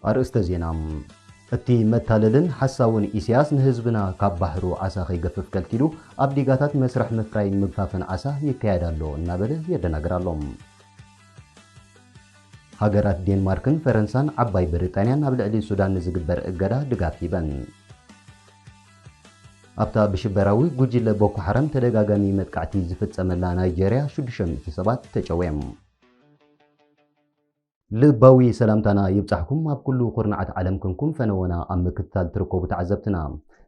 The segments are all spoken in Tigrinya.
ኣርእስተ ዜና፣ እቲ መታለልን ሓሳውን ኢሳያስ ንህዝብና ካብ ባሕሩ ዓሳ ከይገፍፍ ከልኪሉ ኣብ ዲጋታት መስርሕ ምፍራይን ምግፋፍን ዓሳ ይካየድ ኣሎ እናበለ የደናግር ኣሎ። ሃገራት ዴንማርክን ፈረንሳን ዓባይ ብሪጣንያን ኣብ ልዕሊ ሱዳን ንዝግበር እገዳ ድጋፍ ሂበን። ኣብታ ብሽበራዊ ጉጅለ ቦኮ ሓራም ተደጋጋሚ መጥቃዕቲ ዝፍጸመላ ናይጀርያ ሽዱሽተ ሚእቲ ሰባት ተጨውዮም። ልባዊ ሰላምታና ይብጻሕኩም ኣብ ኩሉ ኩርናዓት ዓለም ክንኩም ፈነወና ኣብ ምክትታል ትርከቡ ተዓዘብትና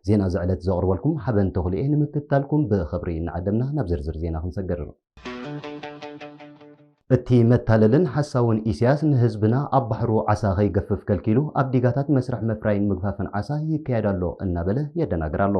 ዜና እዚ ዕለት ዘቕርበልኩም ሓበን ተኽሉ'የ ንምክትታልኩም ብኽብሪ እናዓደምና ናብ ዝርዝር ዜና ክንሰግር። እቲ መታለልን ሓሳውን ኢሲያስ ንህዝብና ኣብ ባሕሩ ዓሳ ከይገፍፍ ከልኪሉ ኣብ ዲጋታት መስርሕ ምፍራይን ምግፋፍን ዓሳ ይካየድ ኣሎ እናበለ የደናግር ኣሎ።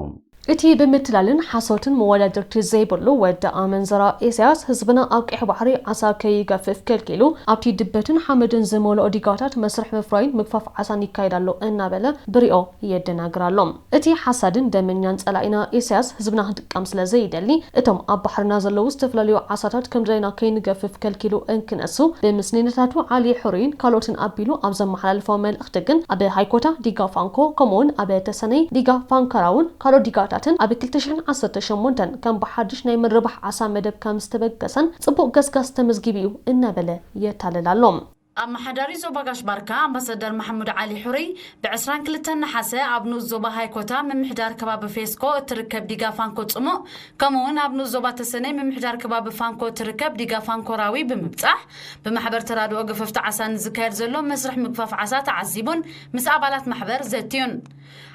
እቲ ብምትላልን ሓሶትን መወዳድርቲ ዘይብሉ ወዲ ኣመንዝራ ኢሲያስ ህዝብና ኣብ ቀይሕ ባሕሪ ዓሳ ከይገፍፍ ከልኪሉ ኣብቲ ድበትን ሓመድን ዝመልኦ ዲጋታት መስርሕ ምፍራይን ምግፋፍ ዓሳን ይካየድ ኣሎ እናበለ ብርኦ የደናግር ኣሎ። እቲ ሓሳድን ደመኛን ጸላኢና ኢሳያስ ህዝብና ክጥቀም ስለ ዘይደሊ እቶም ኣብ ባሕርና ዘለዉ ዝተፈላለዩ ዓሳታት ከምድላይና ከይንገፍፍ ከልኪሉ እንክነሱ ብምስኒነታቱ ዓሊ ሕሩይን ካልኦትን ኣቢሉ ኣብ ዘመሓላልፎ መልእኽቲ ግን ኣብ ሃይኮታ ዲጋ ፋንኮ ከምኡውን ኣብ ተሰነይ ዲጋ ፋንካራውን ካልኦት ዲጋታትን ኣብ ክልተ ሽሕን ዓሰርተ ሸሞንተን ከም ብሓድሽ ናይ ምርባሕ ዓሳ መደብ ከምዝተበገሰን ጽቡቕ ገስጋስ ተመዝጊቡ እዩ እናበለ የታልል ኣሎ። ኣመሓዳሪ ዞባ ጋሽ ባርካ ኣምባሰደር ማሕሙድ ዓሊ ሑሩይ ብ ዕስራን ክልተን ነሓሰ ኣብ ንኡስ ዞባ ሃይኮታ ምምሕዳር ከባቢ ፌስኮ እትርከብ ዲጋ ፋንኮ ጽሙእ ከምኡ ውን ኣብ ንኡስ ዞባ ተሰነይ ምምሕዳር ከባቢ ፋንኮ እትርከብ ዲጋ ፋንኮ ራዊ ብምብጻሕ ብማሕበር ተራድኦ ገፈፍቲ ዓሳ ንዝካየድ ዘሎ መስርሕ ምግፋፍ ዓሳ ተዓዚቡን ምስ ኣባላት ማሕበር ዘትዩን።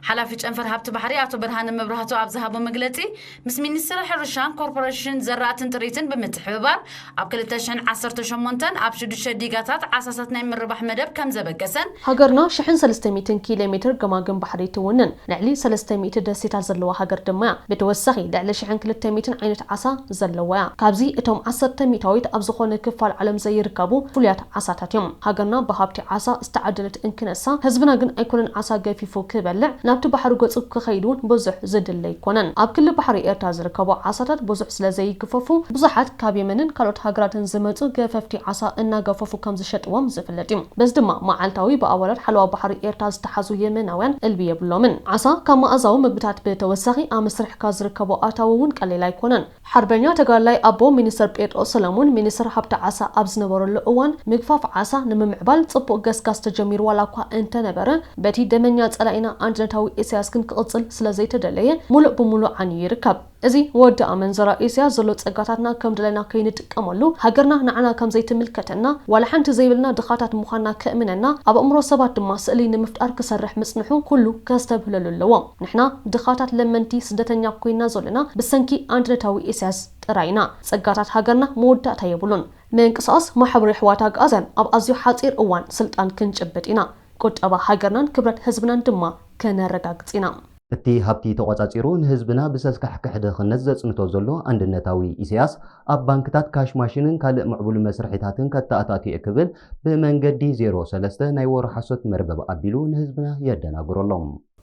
ሓላፊ ጨንፈር ሃብቲ ባሕሪ ኣቶ ብርሃነ መብራህቱ ኣብ ዝሃቦ መግለጺ፣ ምስ ሚኒስትሪ ሕርሻን ኮርፖረሽን ዘራእትን ጥሪትን ብምትሕብባር ኣብ ክልተ ሽሕን ዓሰርተ ሸሞንተን ኣብ ሽዱሽተ ዲጋታት ዓሳሳት ናይ ምርባሕ መደብ ከምዘበገሰን፣ ሃገርና ሽሕን ሰለስተ ሚእትን ኪሌ ሜትር ገማግም ባሕሪ ትውንን፣ ልዕሊ ሰለስተ ሚእቲ ደሴታት ዘለዋ ሃገር ድማ'ያ። ብተወሳኺ ልዕሊ ሽሕን ክልተ ሚእትን ዓይነት ዓሳ ዘለዋ'ያ። ካብዚ እቶም ዓሰርተ ሚእታዊት ኣብ ዝኾነ ክፋል ዓለም ዘይርከቡ ፍሉያት ዓሳታት እዮም ሃገርና ብሃብቲ ዓሳ ዝተዓደለት እንክነሳ ህዝብና ግን ኣይኮነን ዓሳ ገፊፉ ክበልዕ ናብቲ ባሕሪ ገጹ ክኸይድ ውን ብዙሕ ዝድለ ኣይኮነን ኣብ ክሊ ባሕሪ ኤርትራ ዝርከቡ ዓሳታት ብዙሕ ስለ ዘይግፈፉ ብዙሓት ካብ የመንን ካልኦት ሃገራትን ዝመጹ ገፈፍቲ ዓሳ እናገፈፉ ከም ዝሸጥዎም ዝፍለጥ እዩ በዚ ድማ መዓልታዊ ብኣባላት ሓለዋ ባሕሪ ኤርትራ ዝተሓዙ የመናውያን እልቢ የብሎምን ዓሳ ካብ መኣዛዊ ምግብታት ብተወሳኺ ኣብ መስርሕካ ዝርከቦ ኣታዊ ውን ቀሊል ኣይኮነን ሓርበኛ ተጋዳላይ ኣቦ ሚኒስተር ጴጥሮስ ሰለሙን ሚኒስተር ሃብቲ ዓሳ ኣብ ዝነበረሉ እዋን ምግፋፍ ዓሳ ንምምዕባል ጽቡቕ ገስጋስ ተጀሚሩ ዋላኳ እንተነበረ በቲ ደመኛ ጸላኢና ኣንድነታዊ ኢሳያስ ግን ክቕጽል ስለዘይተደለየ ሙሉእ ብሙሉእ ዓንዩ ይርከብ። እዚ ወዲ ኣመንዝራ ኢሳያስ ዘሎ ጸጋታትና ከምደለና ከይንጥቀመሉ ሃገርና ንዓና ከምዘይትምልከተና ዋላ ሓንቲ ዘይብልና ድኻታት ምዃንና ከእምነና ኣብ ኣእምሮ ሰባት ድማ ስእሊ ንምፍጣር ክሰርሕ ምጽንሑ ኩሉ ከስተብህለሉ ኣለዎ። ንሕና ድኻታት ለመንቲ ስደተኛ ኮይና ዞሎና ብሰንኪ ኣንድነታዊ ኢሰያስ ጥራይ ኢና። ጸጋታት ሃገርና መወዳእታ የብሉን። ምንቅስቓስ ማሕበር የሕዋት ኣግኣዝያን ኣብ ኣዝዩ ሓጺር እዋን ስልጣን ክንጭብጥ ኢና። ቁጠባ ሃገርናን ክብረት ህዝብናን ድማ ከነረጋግጽ ኢና። እቲ ሃብቲ ተቖጻጺሩ ንህዝብና ብሰልካሕክሕ ድኽነት ዘጽንቶ ዘሎ ኣንድነታዊ ኢሰያስ ኣብ ባንክታት ካሽ ማሽንን ካልእ ምዕቡል መስርሒታትን ከተኣታቱ'የ ክብል ብመንገዲ ዜሮ ሰለስተ ናይ ወረ ሓሶት መርበብ ኣቢሉ ንህዝብና የደናግሮ ኣሎ።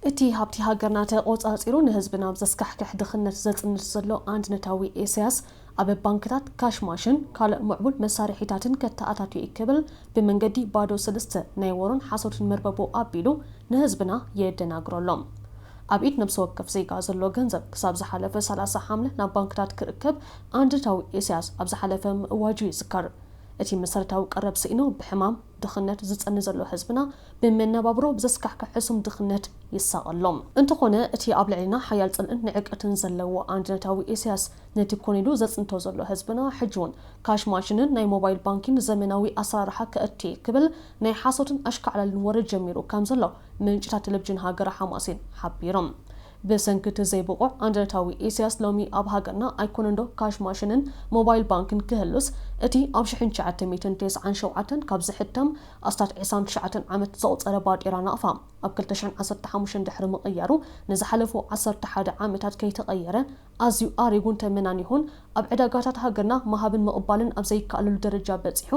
እቲ ሃብቲ ሃገርና ተቖጻጺሩ ንህዝቢ ናብ ዘስካሕክሕ ድኽነት ዘጽንት ዘሎ ኣንድነታዊ ኢሳያስ፣ ኣብ ባንክታት ካሽ ማሽን ካልእ ምዕቡል መሳርሒታትን ከተኣታቱ'የ ክብል ብመንገዲ ባዶ ስልስተ ናይ ወሮን ሓሶትን መርበቡ ኣቢሉ ንህዝብና የደናግሮ ኣሎ። ኣብ ኢድ ነብሲ ወከፍ ዜጋ ዘሎ ገንዘብ ክሳብ ዝሓለፈ ሰላሳ ሓምለ ናብ ባንክታት ክእከብ ኣንድነታዊ ኢሳያስ ኣብ ዝሓለፈ ምእዋጁ ይዝከር። እቲ መሰረታዊ ቀረብ ስኢኑ ብሕማም ድኽነት ዝጸኒ ዘሎ ህዝብና ብመነባብሮ ብዘስካሕክሕ ሕሱም ድኽነት ይሳቐ ኣሎ። እንተኾነ እቲ ኣብ ልዕሌና ሓያል ጽልእን ንዕቀትን ዘለዎ ኣንድነታዊ ኢሳያስ ነቲ ኮን ኢሉ ዘጽንቶ ዘሎ ህዝብና ሕጂውን ካሽ ማሽንን ናይ ሞባይል ባንኪን ዘመናዊ ኣሰራርሓ ከእትዬ ክብል ናይ ሓሶትን ኣሽካዕላልን ወረ ጀሚሩ ከምዘሎ ምንጭታት ተለቭጅን ሃገረ ሓማሴን ሓቢሮም። ብሰንኪ እቲ ዘይብቑዕ ኣንደረታዊ ኢሰያስ ሎሚ ኣብ ሃገርና ኣይኮነንዶ ካሽ ማሽንን ሞባይል ባንክን ክህሉስ እቲ ኣብ ሽሕን ትሽዓተ ሚእትን ተስዓን ሸውዓተን ካብ ዝሕተም ኣስታት ዕስራን ትሽዓተን ዓመት ዘቑጸረ ባጤራ ናቕፋ ኣብ ክልተ ሽሕን ዓሰርተ ሓሙሽተን ድሕሪ ምቕያሩ ንዝሓለፉ ዓሰርተ ሓደ ዓመታት ከይተቐየረ ኣዝዩ ኣሪጉን ተመናኒኹን ኣብ ዕዳጋታት ሃገርና ምሃብን ምቕባልን ኣብ ዘይከኣለሉ ደረጃ በጺሑ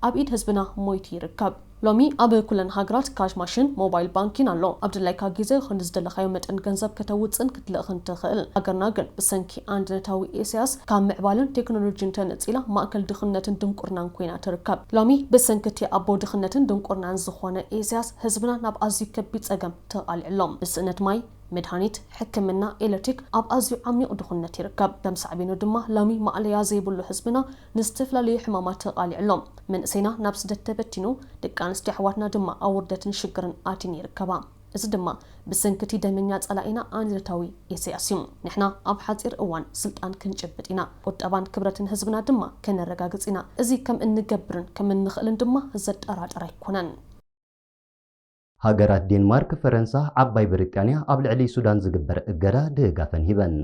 ኣብ ኢድ ህዝብና ሞይቱ ይርከብ። ሎሚ ኣብ ኩለን ሃገራት ካሽ ማሽን፣ ሞባይል ባንኪን ኣሎ። ኣብ ድላይካ ግዜ ኹን ዝደለኻዮ መጠን ገንዘብ ከተውጽእን ክትልእኽን ትኽእል። ሃገርና ግን ብሰንኪ ኣንድነታዊ ኢሰያስ ካብ ምዕባለን ቴክኖሎጂን ተነጺላ ማእከል ድኽነትን ድንቁርናን ኮይና ትርከብ። ሎሚ ብሰንኪ እቲ ኣቦ ድኽነትን ድንቁርናን ዝኾነ ኢሰያስ ህዝብና ናብ ኣዝዩ ከቢድ ጸገም ተቓሊዑ ኣሎ። ብስእነት ማይ፣ መድሃኒት፣ ሕክምና፣ ኤለትሪክ ኣብ ኣዝዩ ዓሚቕ ድኹነት ይርከብ። ከም ሳዕቤኑ ድማ ሎሚ ማእለያ ዘይብሉ ህዝብና ንዝተፈላለዩ ሕማማት ተቓሊዑ ኣሎ። መንእሰይና ናብ ስደት ተበቲኑ፣ ደቂ ኣንስትዮ ኣሕዋትና ድማ ኣብ ውርደትን ሽግርን ኣትየን ይርከባ። እዚ ድማ ብሰንኪ'ቲ ደመኛ ጸላኢና ኣንድነታዊ ኢሰያስ እዩ። ንሕና ኣብ ሓጺር እዋን ስልጣን ክንጭብጥ ኢና። ቁጠባን ክብረትን ህዝብና ድማ ከነረጋግጽ ኢና። እዚ ከም እንገብርን ከም እንኽእልን ድማ ዘጠራጥር ኣይኮነን። ሃገራት ዴንማርክ፣ ፈረንሳ፣ ዓባይ ብሪጣንያ ኣብ ልዕሊ ሱዳን ዝግበር እገዳ ድጋፈን ሂበን።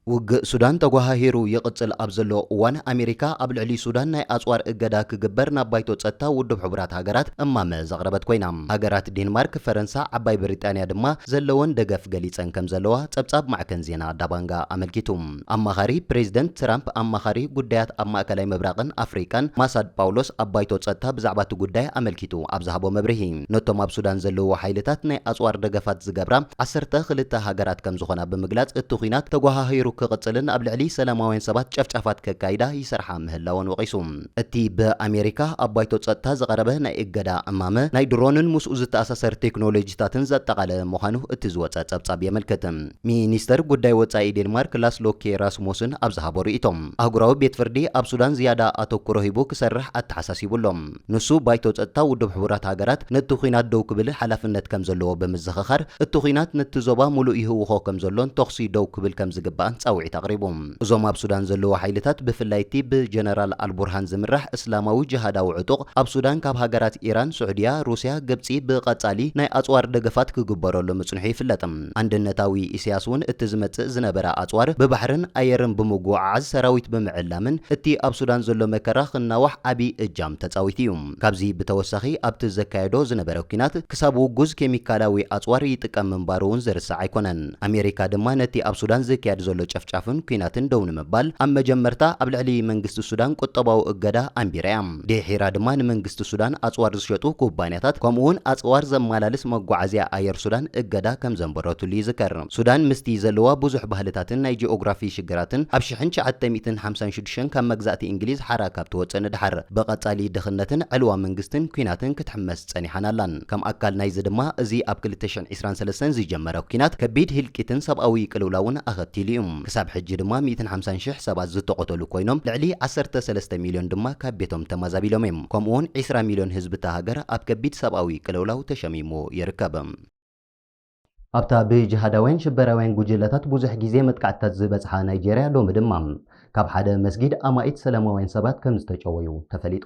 ውግእ ሱዳን ተጓሃሂሩ ይቕጽል ኣብ ዘሎ እዋን፣ ኣሜሪካ ኣብ ልዕሊ ሱዳን ናይ ኣጽዋር እገዳ ክግበር ናብ ባይቶ ጸጥታ ውድብ ሕቡራት ሃገራት እማመ ዘቕረበት ኮይና፣ ሃገራት ዴንማርክ፣ ፈረንሳ፣ ዓባይ ብሪጣንያ ድማ ዘለወን ደገፍ ገሊጸን ከምዘለዋ ጸብጻብ ማዕከን ዜና ዳባንጋ ኣመልኪቱ። ኣማኻሪ ፕሬዝደንት ትራምፕ ኣማኻሪ ጉዳያት ኣብ ማእከላይ ምብራቕን ኣፍሪቃን ማሳድ ጳውሎስ ኣብ ባይቶ ጸጥታ ብዛዕባ'ቲ ጉዳይ ኣመልኪቱ ኣብ ዝሃቦ መብርሂ፣ ነቶም ኣብ ሱዳን ዘለዉ ሓይልታት ናይ ኣጽዋር ደገፋት ዝገብራ ዓሰርተ ክልተ ሃገራት ከምዝኾና ብምግላጽ እቲ ኲናት ተጎሃሂሩ ክቕጽልን ኣብ ልዕሊ ሰላማውያን ሰባት ጨፍጫፋት ከካይዳ ይሰርሓ ምህላወን ወቒሱ። እቲ ብኣሜሪካ ኣብ ባይቶ ጸጥታ ዝቐረበ ናይ እገዳ እማመ፣ ናይ ድሮንን ምስኡ ዝተኣሳሰር ቴክኖሎጂታትን ዘጠቓለለ ምዃኑ እቲ ዝወጸ ጸብጻብ የመልክት። ሚኒስተር ጉዳይ ወጻኢ ዴንማርክ ላስ ሎኬ ራስሞስን ኣብ ዝሃቦ ርእይቶ፣ ኣህጉራዊ ቤት ፍርዲ ኣብ ሱዳን ዝያዳ ኣተኩሮ ሂቡ ክሰርሕ ኣተሓሳሲቡ ኣሎ። ንሱ፣ ባይቶ ጸጥታ ውድብ ሕቡራት ሃገራት ነቲ ኲናት ደው ክብል ሓላፍነት ከም ዘለዎ ብምዝኽኻር፣ እቲ ኲናት ነቲ ዞባ ምሉእ ይህውኾ ከም ዘሎን ተዅሲ ደው ክብል ከም ዝግባእን ጻውዒት ኣቕሪቡ። እዞም ኣብ ሱዳን ዘለዉ ሓይልታት፣ ብፍላይ እቲ ብጀነራል ኣልቡርሃን ዝምራሕ እስላማዊ ጅሃዳዊ ዕጡቕ፣ ኣብ ሱዳን ካብ ሃገራት ኢራን፣ ስዑድያ፣ ሩስያ፣ ግብጺ ብቐጻሊ ናይ ኣጽዋር ደገፋት ክግበረሉ ምጽንሑ ይፍለጥ። ኣንድነታዊ ኢሰያስ ውን እቲ ዝመጽእ ዝነበረ ኣጽዋር ብባሕርን ኣየርን ብምጉዕዓዝ ሰራዊት ብምዕላምን እቲ ኣብ ሱዳን ዘሎ መከራ ክናዋሕ ዓቢ እጃም ተጻዊቱ ኢዩ። ካብዚ ብተወሳኺ ኣብቲ ዘካየዶ ዝነበረ ኲናት ክሳብ ውጉዝ ኬሚካላዊ ኣጽዋር ይጥቀም ምንባሩ ውን ዝርሳዕ ኣይኮነን። ኣሜሪካ ድማ ነቲ ኣብ ሱዳን ዝካየድ ዘሎ ጨፍጫፍን ኲናትን ደው ንምባል ኣብ መጀመርታ ኣብ ልዕሊ መንግስቲ ሱዳን ቁጠባዊ እገዳ ኣንቢራ ኢያ። ድሒራ ድማ ንመንግስቲ ሱዳን ኣጽዋር ዝሸጡ ኩባንያታት ከምኡ'ውን ኣጽዋር ዘመላልስ መጓዓዝያ ኣየር ሱዳን እገዳ ከም ዘንበረትሉ ይዝከር። ሱዳን ምስቲ ዘለዋ ብዙሕ ባህልታትን ናይ ጂኦግራፊ ሽግራትን ኣብ ሽሕን ትሽዓተ ሚእትን ሓምሳን ሽዱሽተን ካብ መግዛእቲ እንግሊዝ ሓራ ካብ ትወጽእ ንደሓር ብቐጻሊ ድኽነትን ዕልዋ መንግስትን ኲናትን ክትሕመስ ጸኒሓን ኣላን። ከም ኣካል ናይዚ ድማ እዚ ኣብ ክልተ ሽሕን ዕስራን ሰለስተን ዝጀመረ ኲናት ከቢድ ህልቂትን ሰብኣዊ ቅልውላውን ኣኸቲሉ'ዩ። ክሳብ ሕጂ ድማ ሚእትን ሓምሳን ሽሕ ሰባት ዝተቖተሉ ኮይኖም ልዕሊ ዓሰርተ ሰለስተ ሚልዮን ድማ ካብ ቤቶም ተማዛቢሎም'ዮም። ከምኡ'ውን ዕስራ ሚልዮን ህዝቢ'ታ ሃገር ኣብ ከቢድ ሰብኣዊ ቅልውላው ተሸሚሙ ይርከብ። ኣብታ ብጅሃዳውያን ሽበራውያን ጉጅለታት ብዙሕ ግዜ መጥቃዕትታት ዝበጽሓ ናይጀርያ ሎሚ ድማ ካብ ሓደ መስጊድ ኣማኢት ሰላማውያን ሰባት ከም ዝተጨወዩ ተፈሊጡ።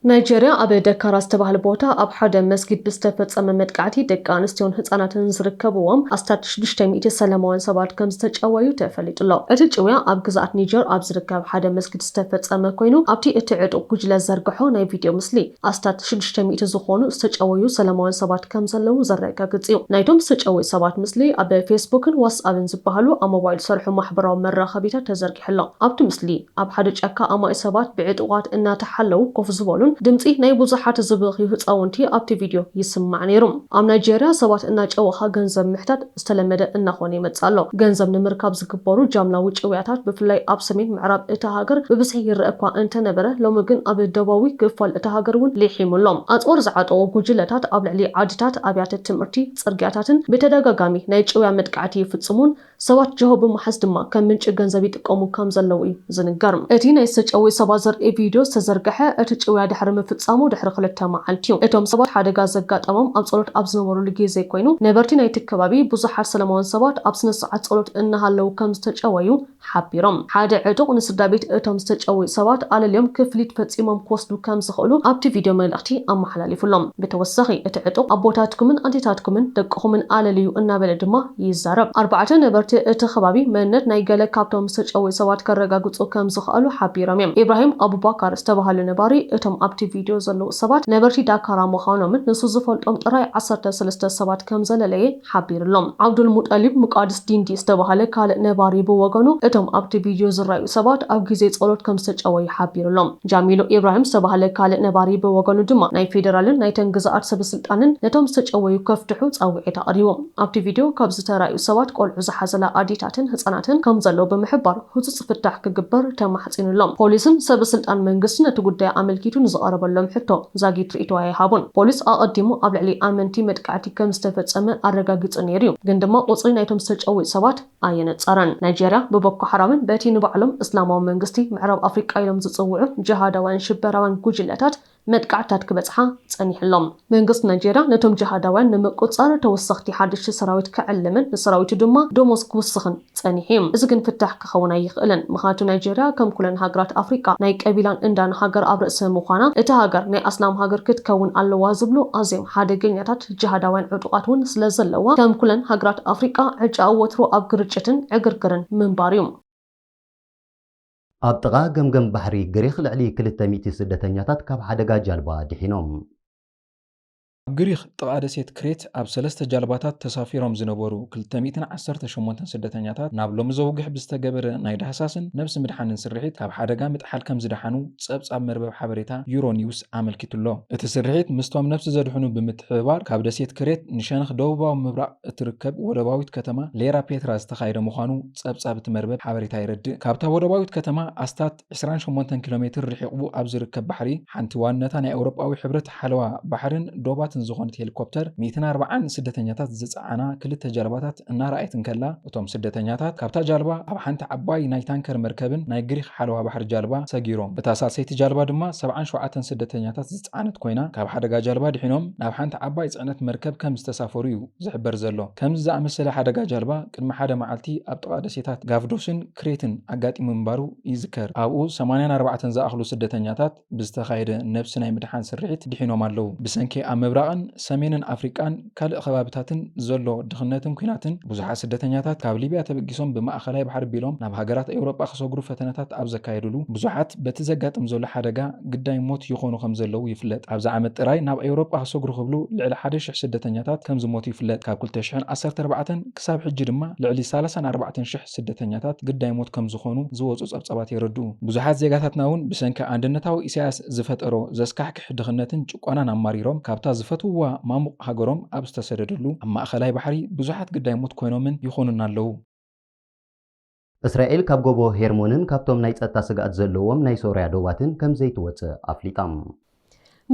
ናይጀርያ ኣብ ደካራ ዝተባህለ ቦታ ኣብ ሓደ መስጊድ ብዝተፈጸመ መጥቃዕቲ ደቂ ኣንስትዮን ህጻናትን ዝርከብዎም ኣስታት ሽዱሽተ ሚእቲ ሰላማውያን ሰባት ከም ዝተጨወዩ ተፈሊጡ'ሎ። እቲ ጭውያ ኣብ ግዝኣት ኒጀር ኣብ ዝርከብ ሓደ መስጊድ ዝተፈጸመ ኮይኑ ኣብቲ እቲ ዕጡቕ ጉጅለ ዝዘርግሖ ናይ ቪድዮ ምስሊ ኣስታት ሽዱሽተ ሚእቲ ዝኾኑ ዝተጨወዩ ሰላማውያን ሰባት ከምዘለዉ ዘረጋግጽ እዩ። ናይቶም ዝተጨወዩ ሰባት ምስሊ ኣብ ፌስቡክን ዋትስኣብን ዝበሃሉ ኣብ ሞባይል ዝሰርሑ ማሕበራዊ መራኸቢታት ተዘርጊሑ ኣሎ። ኣብቲ ምስሊ፣ ኣብ ሓደ ጫካ ኣማኢት ሰባት ብዕጡቓት እናተሓለዉ ኮፍ ዝበሉን ድምጺ ናይ ብዙሓት ዝበኽዩ ህጻውንቲ ኣብቲ ቪድዮ ይስማዕ ነይሩ። ኣብ ናይጀርያ ሰባት እናጨወኻ ገንዘብ ምሕታት፣ ዝተለመደ እናኾነ ይመጽእ ኣሎ። ገንዘብ ንምርካብ ዝግበሩ ጃምላዊ ጭውያታት ብፍላይ ኣብ ሰሜን ምዕራብ እታ ሃገር ብብዝሒ ይረኣ እኳ እንተነበረ፣ ሎሚ ግን ኣብ ደቡባዊ ክፋል እታ ሃገር'ውን ሊሒሙ ኣሎ። ኣጽዋር ዝዓጠቑ ጉጅለታት ኣብ ልዕሊ ዓድታት፣ ኣብያተ ትምህርቲ፣ ጽርግያታትን ብተደጋጋሚ ናይ ጭውያ መጥቃዕቲ ይፍጽሙን ሰባት ጅሆ ብምሓዝ ድማ ከም ምንጪ ገንዘብ ይጥቀሙ ከም ዘለዉ'ዩ። ዝንገር እቲ ናይ ዝተጨውዩ ሰባት ዘርኢ ቪድዮ ዝተዘርግሐ፣ እቲ ጭውያ ድሕሪ ምፍጻሙ ድሕሪ ክልተ መዓልቲ'ዩ። እቶም ሰባት ሓደጋ ዘጋጠሞም ኣብ ጸሎት ኣብ ዝነበሩሉ ግዜ ኰይኑ፣ ነበርቲ ናይቲ ከባቢ ብዙሓት ሰለማውያን ሰባት ኣብ ስነ-ስርዓት ጸሎት እናሃለዉ ከም ዝተጨወዩ ሓቢሮም። ሓደ ዕጡቕ ንስድራቤት እቶም ዝተጨውዩ ሰባት ኣለልዮም ክፍሊት ፈጺሞም ክወስዱ ከም ዝኽእሉ ኣብቲ ቪድዮ መልእኽቲ ኣመሓላሊፉሎም። ብተወሳኺ፣ እቲ ዕጡቕ ኣቦታትኩምን ኣዴታትኩምን ደቅኹምን ኣለልዩ እናበለ ድማ፣ ይዛረብ። ኣርባዕተ ነበርቲ እቲ ከባቢ መንነት ናይ ገለ ካብቶም ዝተጨውዩ ሰባት ከረጋግጹ ከም ዝኸኣሉ ሓቢሮም እዮም። ኢብራሂም ኣቡባካር ዝተባህለ ነባሪ፣ እቶም ኣብቲ ቪድዮ ዘለዉ ሰባት ነበርቲ ዳካራ ምዃኖምን ንሱ ዝፈልጦም ጥራይ ዓሰርተ ሰለስተ ሰባት ከም ዘለለየ ሓቢሩ'ሎ። ዓብዱልሙጠሊብ ሙቃድስ ዲንዲ ዝተባህለ ካልእ ነባሪ ብወገኑ፣ እቶም ኣብቲ ቪድዮ ዝረኣዩ ሰባት ኣብ ግዜ ጸሎት ከም ዝተጨወዩ ሓቢሩ'ሎ። ጃሚሉ ኢብራሂም ዝተባህለ ካልእ ነባሪ ብወገኑ ድማ፣ ናይ ፌደራልን ናይተን ግዝኣት ሰበስልጣንን ነቶም ዝተጨወዩ ከፍትሑ ጻውዒት ኣቕሪቡ። ኣብቲ ቪድዮ ካብ ዝተራእዩ ሰባት ቆልዑ ዝሓዘላ ኣዴታትን ህጻናትን ከምዘለዉ ብምሕባር ህጹጽ ፍታሕ ክግበር ተማሕጺኑ ኣሎ። ፖሊስን ሰበ ስልጣን መንግስቲ ነቲ ጉዳይ ኣመልኪቱ ንዝቐረበሎም ሕቶ ዛጊት ርእይቶ ኣይሃቡን። ፖሊስ ኣቐዲሙ ኣብ ልዕሊ ኣመንቲ መጥቃዕቲ ከም ዝተፈጸመ ኣረጋጊጹ ነይሩ'ዩ፣ ግን ድማ ቁጽሪ ናይቶም ዝተጨውዩ ሰባት ኣየነጸረን። ናይጀርያ ብቦኮ ሓራምን በቲ ንባዕሎም እስላማዊ መንግስቲ ምዕራብ ኣፍሪቃ ኢሎም ዝጽውዑ ጅሃዳውያን ሽበራውያን ጉጅለታት መጥቃዕትታት ክበጽሓ ጸኒሑ ኣሎ። መንግስቲ ናይጀርያ ነቶም ጂሃዳውያን ንምቁጽጻር ተወሰኽቲ ሓደሽቲ ሰራዊት ክዕልምን ንሰራዊቱ ድማ ደሞዝ ክውስኽን ጸኒሑ እዩ። እዚ ግን ፍታሕ ክኸውን ኣይኽእልን። ምኽንያቱ ናይጀርያ ከም ኩለን ሃገራት ኣፍሪቃ ናይ ቀቢላን እንዳን ሃገር ኣብ ርእሲ ምዃና እታ ሃገር ናይ ኣስላም ሃገር ክትከውን ኣለዋ ዝብሉ ኣዝዮም ሓደገኛታት ጂሃዳውያን ዕጡቓት እውን ስለዘለዋ ከም ኩለን ሃገራት ኣፍሪቃ ዕጫኡ ወትሩ ኣብ ግርጭትን ዕግርግርን ምንባር እዩ። ኣብ ጥቓ ገምገም ባሕሪ ግሪኽ ልዕሊ ክልተ ሚእቲ ስደተኛታት ካብ ሓደጋ ጃልባ ድሒኖም። ኣብ ግሪኽ ጥቓ ደሴት ክሬት ኣብ ሰለስተ ጃልባታት ተሳፊሮም ዝነበሩ ክልተ ሚእትን ዓሰርተ ሸሞንተን ስደተኛታት ናብ ሎሚ ዘውግሕ ብዝተገበረ ናይ ዳህሳስን ነብሲ ምድሓንን ስርሒት ካብ ሓደጋ ምጥሓል ከምዝደሓኑ ጸብጻብ መርበብ ሓበሬታ ዩሮኒውስ ኣመልኪቱ'ሎ። እቲ ስርሒት ምስቶም ነብሲ ዘድሕኑ ብምትሕብባር ካብ ደሴት ክሬት ንሸነኽ ደቡባዊ ምብራቕ እትርከብ ወደባዊት ከተማ ሌራ ፔትራ ዝተኻየደ ምዃኑ ጸብጻብ እቲ መርበብ ሓበሬታ የረድእ። ካብታ ወደባዊት ከተማ ኣስታት ዕስራን ሸሞንተን ኪሎ ሜትር ርሒቝቡ ኣብ ዝርከብ ባሕሪ፣ ሓንቲ ዋንነታ ናይ ኤውሮጳዊ ሕብረት ሓለዋ ባሕርን ዶባትን ዝኾነት ሄሊኮፕተር ሚእትን ኣርባዓን ስደተኛታት ዝጸዓና ክልተ ጃልባታት እናረኣየት እንከላ፣ እቶም ስደተኛታት ካብታ ጃልባ ኣብ ሓንቲ ዓባይ ናይ ታንከር መርከብን ናይ ግሪኽ ሓለዋ ባሕሪ ጃልባ ሰጊሮም። እታ ሳልሰይቲ ጃልባ ድማ ሰብዓን ሸውዓተን ስደተኛታት ዝጸዓነት ኮይና፣ ካብ ሓደጋ ጃልባ ድሒኖም ናብ ሓንቲ ዓባይ ጽዕነት መርከብ ከም ዝተሳፈሩ'ዩ። ዝሕበር ዘሎ። ከምዚ ዝኣመሰለ ሓደጋ ጃልባ ቅድሚ ሓደ መዓልቲ ኣብ ጥቓ ደሴታት ጋቭዶስን ክሬትን ኣጋጢሙ ምንባሩ ይዝከር። ኣብኡ ሰማንያን ኣርባዕተን ዝኣኽሉ ስደተኛታት ብዝተኻየደ ነብሲ ናይ ምድሓን ስርሒት ድሒኖም ኣለዉ። ብሰንኪ ኣብ ምብራቕን ሰሜንን ኣፍሪቃን ካልእ ከባቢታትን ዘሎ ድኽነትን ኲናትን ብዙሓት ስደተኛታት ካብ ሊብያ ተበጊሶም ብማእከላይ ባሕሪ ቢሎም ናብ ሃገራት ኤውሮጳ ክሰግሩ ፈተነታት ኣብ ዘካየድሉ ብዙሓት በቲ ዘጋጥም ዘሎ ሓደጋ ግዳይ ሞት ይኾኑ ከምዘለዉ ይፍለጥ። ኣብዚ ዓመት ጥራይ ናብ ኤውሮጳ ሰግሩ ክብሉ ልዕሊ ሓደ ሽሕ ስደተኛታት ከምዝሞቱ ይፍለጥ። ካብ ክልተ ሽሕን ዓሰርተ ኣርባዕተን ክሳብ ሕጂ ድማ ልዕሊ ሳላሳን ኣርባዕተን ሽሕ ስደተኛታት ግዳይ ሞት ከምዝኾኑ ዝወጹ ጸብጻባት የረድኡ። ብዙሓት ዜጋታትና'ውን ብሰንኪ ኣንድነታዊ ኢሳያስ ዝፈጠሮ ዘስካሕክሕ ድኽነትን ጭቆናን ኣማሪሮም ካብታ ዝፈትውዋ ማሙቕ ሃገሮም ኣብ ዝተሰደድሉ ኣብ ማእከላይ ባሕሪ ብዙሓት ግዳይ ሞት ኮይኖምን ይኾኑን ኣለዉ። እስራኤል ካብ ጎቦ ሄርሞንን ካብቶም ናይ ጸጥታ ስግኣት ዘለዎም ናይ ሶርያ ዶባትን ከም ዘይትወጽእ ኣፍሊጣ።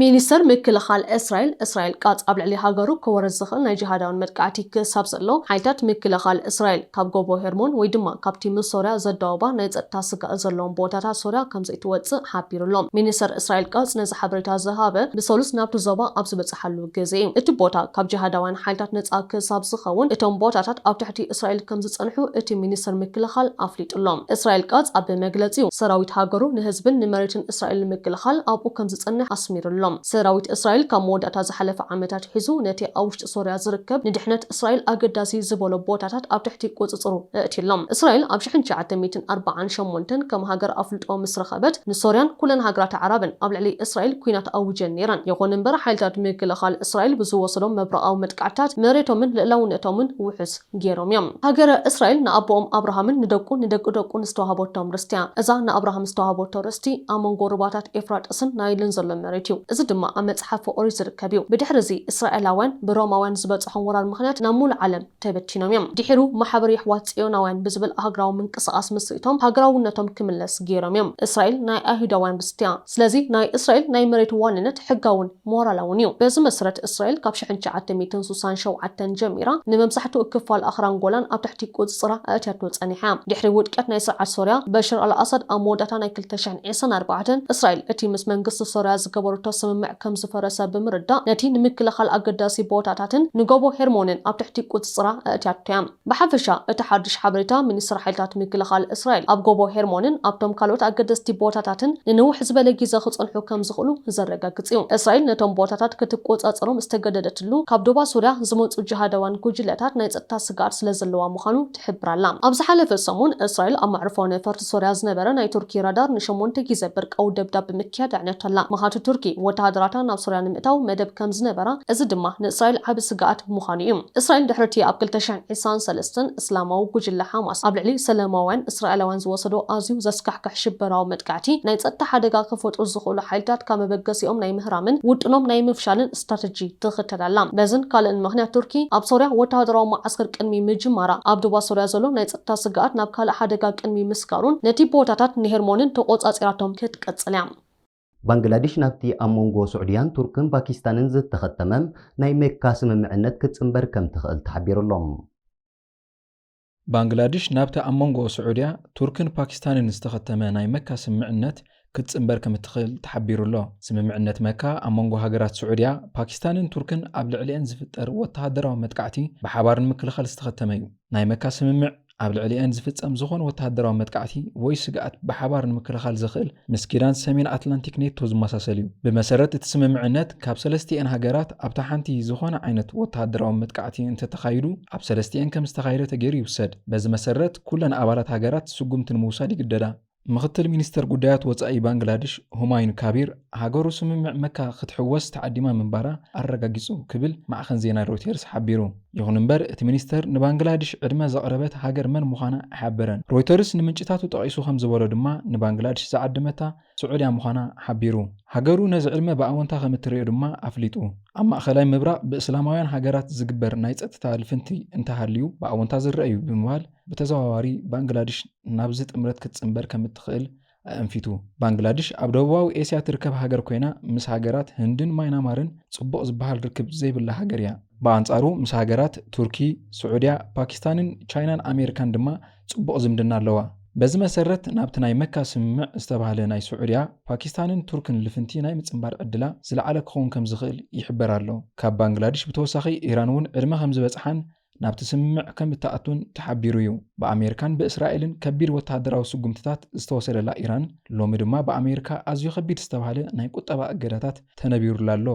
ሚኒስተር ምክልኻል እስራኤል፣ እስራኤል ቃጽ ኣብ ልዕሊ ሃገሩ ከወርድ ዝኽእል ናይ ጂሃዳውን መጥቃዕቲ ክሳብ ዘሎ፣ ሓይልታት ምክልኻል እስራኤል ካብ ጎቦ ሄርሞን ወይ ድማ ካብቲ ምስ ሶርያ ዘዳውባ ናይ ጸጥታ ስግኣት ዘለዎም ቦታታት ሶርያ ከም ዘይትወጽእ ሓቢሩ'ሎ። ሚኒስተር እስራኤል ቃጽ ነዚ ሓበሬታ ዝሃበ ብሰሉስ ናብቲ ዞባ ኣብ ዝበጽሓሉ ግዜ እዩ። እቲ ቦታ ካብ ጂሃዳውያን ሓይልታት ነጻ ክሳብ ዝኸውን፣ እቶም ቦታታት ኣብ ትሕቲ እስራኤል ከም ዝጸንሑ እቲ ሚኒስተር ምክልኻል ኣፍሊጡ ኣሎ። እስራኤል ቃጽ ኣብ መግለጺኡ፣ ሰራዊት ሃገሩ ንህዝብን ንመሬትን እስራኤል ንምክልኻል ኣብኡ ከም ዝጸንሕ ኣስሚሩ ኣሎ። ሰራዊት እስራኤል ካብ መወዳእታ ዝሓለፈ ዓመት ኣትሒዙ ነቲ ኣብ ውሽጢ ሶርያ ዝርከብ ንድሕነት እስራኤል ኣገዳሲ ዝበሎ ቦታታት ኣብ ትሕቲ ቁጽጽሩ እእትዩ ኣሎ። እስራኤል ኣብ ሽሕን ትሽዓተ ሚእትን ኣርብዓን ሸሞንተን ከም ሃገር ኣፍልጦ ምስ ረኸበት ንሶርያን ኩለን ሃገራት ኣዕራብን ኣብ ልዕሊ እስራኤል ኩናት ኣዊጀን ነይረን። ይኹን እምበር ሓይልታት ምክልኻል እስራኤል ብዝወሰዶም መብረቓዊ መጥቃዕትታት መሬቶምን ልእላውነቶምን ውሑስ ገይሮም እዮም። ሃገረ እስራኤል ንኣቦኦም ኣብርሃምን ንደቁ ንደቂ ደቁን ዝተዋህበቶም ርስቲ እያ። እዛ ንኣብርሃም ዝተዋህበቶ ርስቲ ኣብ መንጎ ሩባታት ኤፍራጥስን ናይልን ዘሎ መሬት እዩ። እዚ ድማ ኣብ መጽሓፈ ኦሪት ዝርከብ። ከብዩ። ብድሕሪ እዚ እስራኤላውያን ብሮማውያን ዝበጸሖም ወራር ምኽንያት ናብ ሙሉእ ዓለም ተበቲኖም እዮም። ድሒሩ ማሕበር የሕዋት ጽዮናውያን ብዝብል ኣህግራዊ ምንቅስቃስ ምስሪቶም ሃገራውነቶም ክምለስ ጌሮም እዮም። እስራኤል ናይ ኣይሁዳውያን ርስቲ እያ። ስለዚ ናይ እስራኤል ናይ መሬት ዋንነት ሕጋውን ሞራላውን እዩ። በዚ መስረት እስራኤል ካብ ሽሕን ትሽዓተ ሚእትን ሱሳን ሸውዓተን ጀሚራ ንመብዛሕትኡ ክፋል ኣኽራን ጎላን ኣብ ትሕቲ ቁጽጽራ ኣእትያቶ ጸኒሓ እያ። ድሕሪ ውድቀት ናይ ስርዓት ሶርያ በሽር ኣል ኣሳድ ኣብ መወዳእታ ናይ ክልተ ዒስራን ኣርባዕተን፣ እስራኤል እቲ ምስ መንግስቲ ሶርያ ዝገበረቶ ስምምዕ ከም ዝፈረሰ ብምርዳእ ነቲ ንምክልኻል ኣገዳሲ ቦታታትን ንጎቦ ሄርሞንን ኣብ ትሕቲ ቁጽጽራ ኣእትያቶ እያ። ብሓፈሻ እቲ ሓድሽ ሓበሬታ ሚኒስትሪ ሓይልታት ምክልኻል እስራኤል ኣብ ጎቦ ሄርሞንን ኣብቶም ካልኦት ኣገደስቲ ቦታታትን ንንውሕ ዝበለ ግዜ ክጸንሑ ከም ዝኽእሉ ዘረጋግጽ እዩ። እስራኤል ነቶም ቦታታት ክትቆጻጸሮም ዝተገደደትሉ ካብ ዶባ ሶርያ ዝመጹ ጂሃዳውያን ጉጅለታት ናይ ጸጥታ ስግኣት ስለ ዘለዋ ምዃኑ ትሕብር ኣላ። ኣብ ዝሓለፈ ሰሙን፣ እስራኤል ኣብ መዕርፎ ነፈርቲ ሶርያ ዝነበረ ናይ ቱርኪ ራዳር ንሸሞንተ ግዜ ብርቃዊ ደብዳብ ብምክያድ ኣዕንያቶ'ላ። መኻቲ ቱርኪ፣ ወተሃደራታ ናብ ሶርያ ንምእታው መደብ ከም ዝነበራ፣ እዚ ድማ ንእስራኤል ዓቢ ስግኣት ምዃኑ'ዩ። እስራኤል ድሕሪ'ቲ ኣብ ክልተ ሽሕን ዒስራን ሰለስተን፣ እስላማዊ ጉጅለ ሓማስ ኣብ ልዕሊ ሰለማውያን እስራኤላውያን ዝወሰዶ ኣዝዩ ዘስካሕክሕ ሽበራዊ መጥቃዕቲ፣ ናይ ጸጥታ ሓደጋ ከፈጥሩ ዝኽእሉ ሓይልታት ካብ መበገሲኦም ናይ ምህራምን ውጥኖም ናይ ምፍሻልን ስትራተጂ ትኽተል ኣላ። በዝን ካልእን ምኽንያት ቱርኪ ኣብ ሶርያ ወተሃደራዊ መዓስከር ቅድሚ ምጅማራ፣ ኣብ ዶባ ሶርያ ዘሎ ናይ ጸጥታ ስግኣት ናብ ካልእ ሓደጋ ቅድሚ ምስጋሩን ነቲ ቦታታት ንሄርሞንን ተቖጻጺራቶም ክትቅጽል እያ። ባንግላዲሽ ናብቲ ኣብ መንጎ ሱዕድያን ቱርክን ፓኪስታንን ዝተኸተመ ናይ ሜካ ስምምዕነት ክትጽንበር ከምትኽእል ተሓቢሩ'ሎ። ባንግላድሽ ናብቲ ኣብ መንጎ ስዑድያ፣ ቱርክን ፓኪስታንን ዝተኸተመ ናይ መካ ስምምዕነት ክትጽንበር ከም እትኽእል ተሓቢሩ'ሎ። ስምምዕነት መካ ኣብ መንጎ ሃገራት ስዑድያ፣ ፓኪስታንን ቱርክን ኣብ ልዕሊኤን ዝፍጠር ወተሃደራዊ መጥቃዕቲ ብሓባር ንምክልኻል ዝተኸተመ'ዩ። ናይ መካ ስምምዕ፣ ኣብ ልዕሊኤን ዝፍጸም ዝኾነ ወተሃደራዊ መጥቃዕቲ ወይ ስግኣት ብሓባር ንምክልኻል ዘኽእል፣ ምስ ኪዳን ሰሜን ኣትላንቲክ ኔቶ ዝመሳሰል እዩ። ብመሰረት እቲ ስምምዕነት ካብ ሰለስቲኤን ሃገራት ኣብታ ሓንቲ ዝኾነ ዓይነት ወተሃደራዊ መጥቃዕቲ እንተተኻይዱ ኣብ ሰለስቲኤን ከም ዝተኻየደ ተገይሩ ይውሰድ። በዚ መሰረት ኩለን ኣባላት ሃገራት ስጉምቲ ንምውሳድ ይግደዳ። ምኽትል ሚኒስተር ጉዳያት ወጻኢ ባንግላድሽ ሁማዩን ካቢር ሃገሩ ስምምዕ መካ ክትሕወስ ተዓዲማ ምንባራ ኣረጋጊጹ ክብል ማዕኸን ዜና ሮይተርስ ሓቢሩ። ይኹን እምበር እቲ ሚኒስተር ንባንግላድሽ ዕድመ ዘቕረበት ሃገር መን ምዃና ኣይሓበረን። ሮይተርስ ንምንጭታቱ ጠቒሱ ከም ዝበሎ ድማ ንባንግላድሽ ዝዓደመታ ስዑድያ ምዃና ሓቢሩ። ሃገሩ ነዚ ዕድመ ብኣወንታ ከም እትርእዮ ድማ ኣፍሊጡ። ኣብ ማእከላይ ምብራቕ ብእስላማውያን ሃገራት ዝግበር ናይ ጸጥታ ልፍንቲ እንተሃልዩ ብኣወንታ ዝረኣ'ዩ ብምባል ብተዘዋዋሪ ባንግላድሽ ናብዚ ጥምረት ክትጽንበር ከም እትኽእል ኣእንፊቱ። ባንግላድሽ ኣብ ደቡባዊ ኤስያ ትርከብ ሃገር ኮይና ምስ ሃገራት ህንድን ማይናማርን ጽቡቕ ዝበሃል ርክብ ዘይብላ ሃገር እያ። ብኣንጻሩ ምስ ሃገራት ቱርኪ፣ ስዑድያ፣ ፓኪስታንን ቻይናን ኣሜሪካን ድማ ጽቡቕ ዝምድና ኣለዋ። በዚ መሰረት ናብቲ ናይ መካ ስምምዕ ዝተባህለ ናይ ስዑድያ፣ ፓኪስታንን ቱርክን ልፍንቲ ናይ ምጽንባር ዕድላ ዝለዓለ ክኸውን ከምዝኽእል ይሕበር ኣሎ። ካብ ባንግላድሽ ብተወሳኺ ኢራን'ውን ዕድመ ከምዝበጽሓን ናብቲ ስምምዕ ከም እትኣቱን ተሓቢሩ'ዩ። ብኣሜሪካን ብእስራኤልን ከቢድ ወተሃደራዊ ስጉምትታት ዝተወሰደላ ኢራን፣ ሎሚ ድማ ብኣሜሪካ ኣዝዩ ከቢድ ዝተባህለ ናይ ቁጠባ እገዳታት ተነቢሩላ ኣሎ።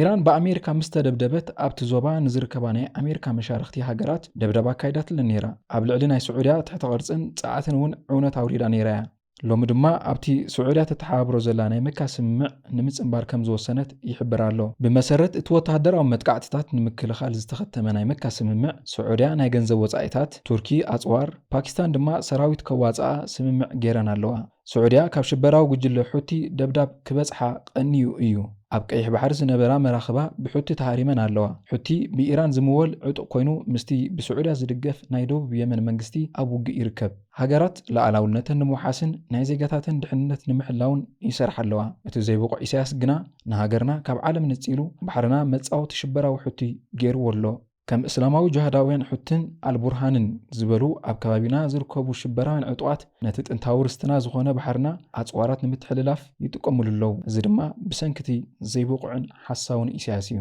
ኢራን ብኣሜሪካ ምስ ተደብደበት፣ ኣብቲ ዞባ ንዝርከባ ናይ ኣሜሪካ መሻርኽቲ ሃገራት ደብዳብ ኣካይዳትለን ነይራ። ኣብ ልዕሊ ናይ ስዑድያ ትሕተ-ቅርጽን ጸዓትን'ውን ዕውነት ኣውሪዳ ነይራ'ያ። ሎሚ ድማ ኣብቲ ስዑድያ ተተሓባብሮ ዘላ ናይ መካ ስምምዕ ንምጽንባር ከም ዝወሰነት ይሕበር ኣሎ። ብመሰረት እቲ ወተሃደራዊ መጥቃዕትታት ንምክልኻል ዝተኸተመ ናይ መካ ስምምዕ፣ ስዑድያ ናይ ገንዘብ ወጻኢታት፣ ቱርኪ ኣጽዋር፣ ፓኪስታን ድማ ሰራዊት ከዋጽኣ ስምምዕ ገይረን ኣለዋ። ስዑድያ ካብ ሽበራዊ ጉጅለ ሑቲ ደብዳብ ክበጽሓ ቀንዩ እዩ። ኣብ ቀይሕ ባሕሪ ዝነበራ መራኽባ ብሑቲ ተሃሪመን ኣለዋ። ሑቲ ብኢራን ዝምወል ዕጡቕ ኮይኑ ምስቲ ብስዑድያ ዝድገፍ ናይ ደቡብ የመን መንግስቲ ኣብ ውግእ ይርከብ። ሃገራት ልኣላውነተን ንምውሓስን ናይ ዜጋታተን ድሕንነት ንምሕላውን ይሰርሓ ኣለዋ። እቲ ዘይብቑዕ ኢሳያስ ግና ንሃገርና ካብ ዓለም ነጺሉ ባሕርና መጻወቲ ሽበራዊ ሑቲ ገይርዎ ኣሎ። ከም እስላማዊ ጅሃዳውያን ሑትን ኣልቡርሃንን ዝበሉ ኣብ ከባቢና ዝርከቡ ሽበራውያን ዕጡቓት ነቲ ጥንታዊ ርስትና ዝኾነ ባሕርና ኣጽዋራት ንምትሕልላፍ ይጥቀሙሉ ኣለው። እዚ ድማ ብሰንኪ'ቲ ዘይብቑዕን ሓሳውን ኢሳያስ እዩ።